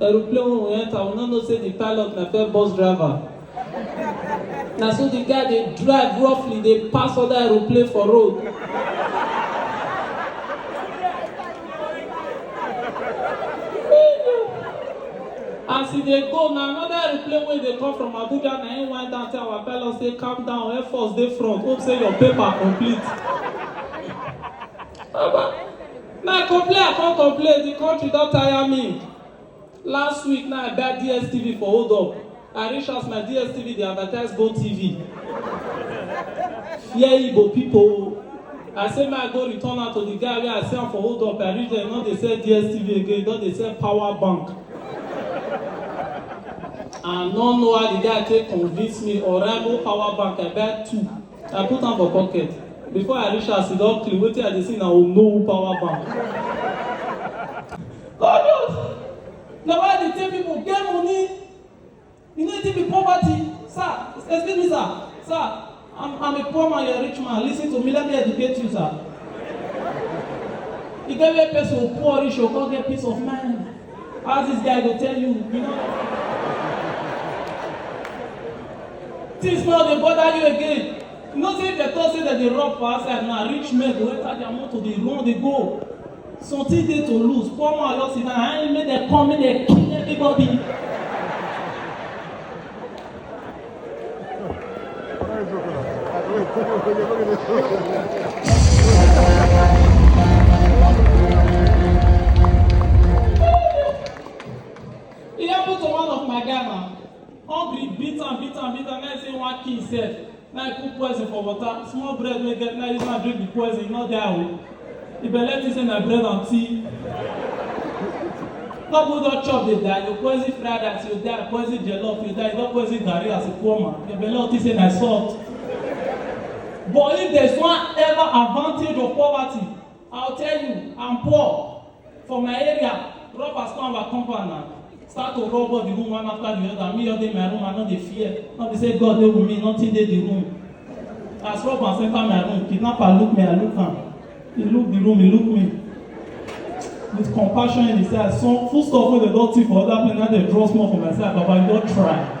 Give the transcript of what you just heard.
Aeroplane wey we enter, we no know say the pilot na fair bus driver. Na so the guy dey drive roughly dey pass other aeroplane for road. As e dey go, na another aeroplane wey dey come from Abuja na him wind down tell our pilot say calm down, Air Force dey front, hope say your paper complete. Baba. Na complain I come complain, the country don tire me. Last week na I buy DSTV for hold up. I reach house my DSTV dey advertise Go TV. Fear Igbo pipo o. I say make I go return am to the guy wey I sell am for hold up. I reach there, e no dey sell DSTV again, e don dey sell power bank. I no know how the guy take convince me, Oraimo power bank, I buy two. I put am for pocket. Before I reach house, e don clean. Wetin I dey see na Onowu power bank. Odos! Na why I dey tell people get money. You no dey be poverty. Sir, excuse me, sir. Sir, I'm, I'm a poor man, you're a rich man. Listen to me, let me educate you, sir. You get where person poor reach, you come get peace of mind. How this guy go tell you? You know. Things now dey bother you again. You know say if dem talk say dem dey rob for outside now, rich men go enter their motor dey run dey go. Something dey to lose. Poor man just sit down, I ain't make dem come make dem kill everybody. It happened to one of my Ghana. Hungry, beat am, beat am, beat am. Now say one king sef. Now he put poison for water. Small bread wey get now use am drink the poison, he no die o. If I let you say na bread and tea. Couple don chop dey die, you poison fried rice, you die, poison jollof, you die, you don poison garri as a poor man. Your belle think say na salt. But if there's one ever advantage of poverty, I'll tell you, I'm poor. For my area, robbers come our compound now. Start to rob all the room one after the other. Me just dey my room, I no dey fear. No be say God dey with me, nothing dey the room. As robbers enter my room, kidnapper look me, I look am. He look the room, he look me. With compassion in his eyes, some food stuff wey dey don thief for other place, now dey draw small for my side, Baba, you don try.